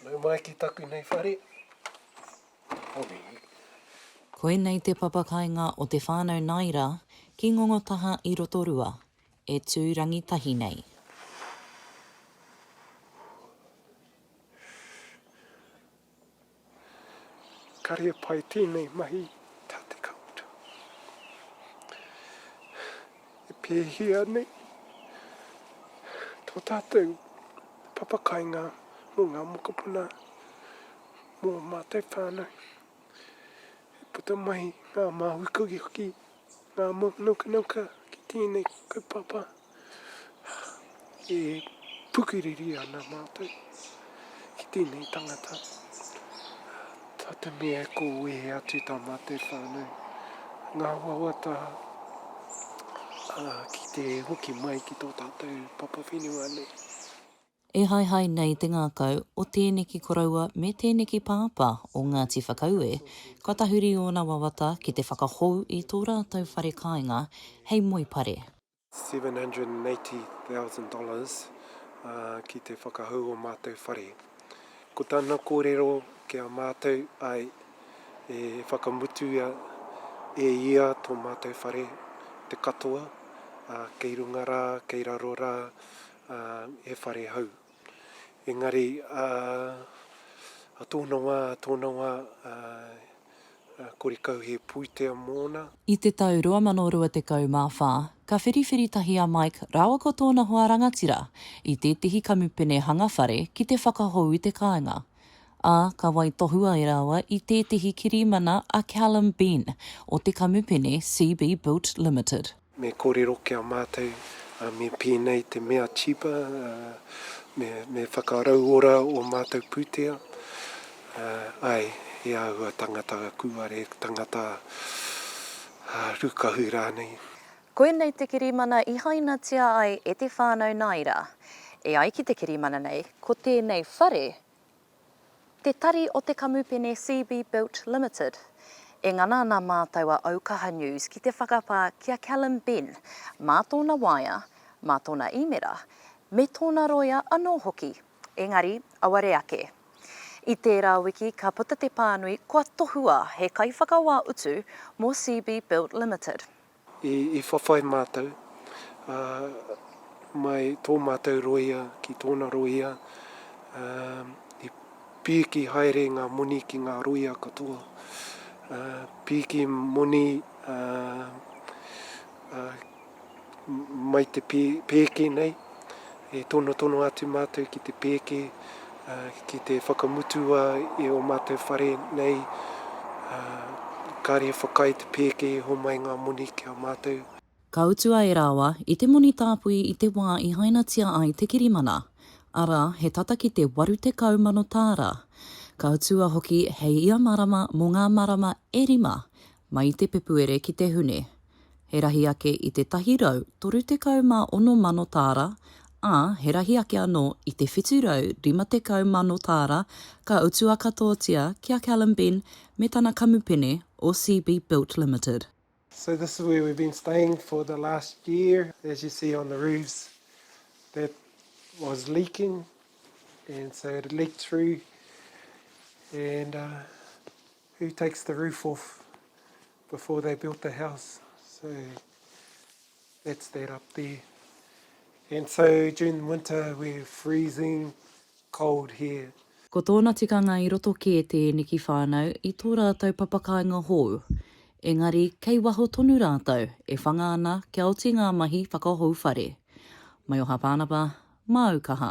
Nau mai ki taku nei whare. Hore. Koinei te papa kainga o te whanau Naira ki Ngongotaha i Rotorua, e tu rangitahi nei. Kare e pai tēnei mahi tā te kaupapa. E pēhea nei tō tātou papakainga mō ngā mokopuna, mō ō mātou whānau? E puta mai ngā māui kogi hoki, ngā mō nauka nauka ki tēnei kaupapa. e pukiriri ana mātou ki tēnei tangata. Tā te mea e kōwehe atu tā mātou whānau, ngā wawata ki te hoki mai ki tō tātou papa whenua nei. E haehae nei te ngākau o tēneki koroua me tēneki pāpā o Ngāti Whakaue, kua tahuri ōna wawata ki te whakahou i tō rātou whare kāinga hei moe pare. 780,000 dollars ki te whakahou o mātou whare. Ko tana kōrero ki a mātou ai e whakamutuia e ia tō mātou whare te katoa, kei runga rā, kei raro rā, he whare hou. Engari, a tōna wā, tōna wā. Korikauhe Puitea mōna. I te tau 2024, ka whiriwhiri tahi a Mike rāua ko tōna hoa rangatira i tētehi kamupene hanga whare ki te whakahou i te kāinga, ā, ka waitohu ai rāua i tētehi kirimana a Callum Benn o te kamupene CB Built Limited. Me korero ki a matou, me penei te mea tipa, me whakarauora o matou putea, ae, e ahua tangata kūare, tangata rukahu ranei. Koinei te kirimana i hainatia ai e te whānau Naira. E ai ki te kirimana nei, ko tēnei whare Te Tari o te Kamupene CB Built Limited. E ngana ana mātou a Aukaha News ki te whakapā ki a Callum Benn mā tōna waea, mā tōna īmera, me tōna roia anō hoki, engari auare ake. I tērā wiki ka puta te pānui kua tohua he kaiwhakawā utu mō CB Built Limited. I whawhai mātou, ā, mai tō mātou rōia ki tōna rōia, ā, i pīki haere ngā moni ki ngā rōia katoa, ā, pīki moni, ā, ā, mai te pēki nei, E tonotono atu mātou ki te pēke, ki te whakamutua i ō mātou whare nei, kāre e whakaae te pēke e homai ngā moni ki a mātou. Ka utua e rāua i te moni tāpui i te wā i hainatia ai te kirimana, arā, he tata ki te 80 mano tāra. Ka utua hoki hei ia marama mō ngā marama e rima, Mai i te Pepuere ki te Hune, he rahi ake i te 136 mano tāra, ā, he rahi ake anō i te 750 mano tāra ka utua katoatia ki a Callum Benn me tana kamupene o CB Built Limited. So this is where we've been staying for the last year, as you see on the roofs that was leaking and so it leaked through and Who takes the roof off before they built the house? So that's that up there. And so during the winter we're freezing cold here. Ko tōna tikanga i roto kē tēneki whānau i tō rātou papakāinga hou. Engari kei waho tonu rātou, e whanga ana kia oti ngā mahi whakahou whare. Maioha Pānapa, māu kaha.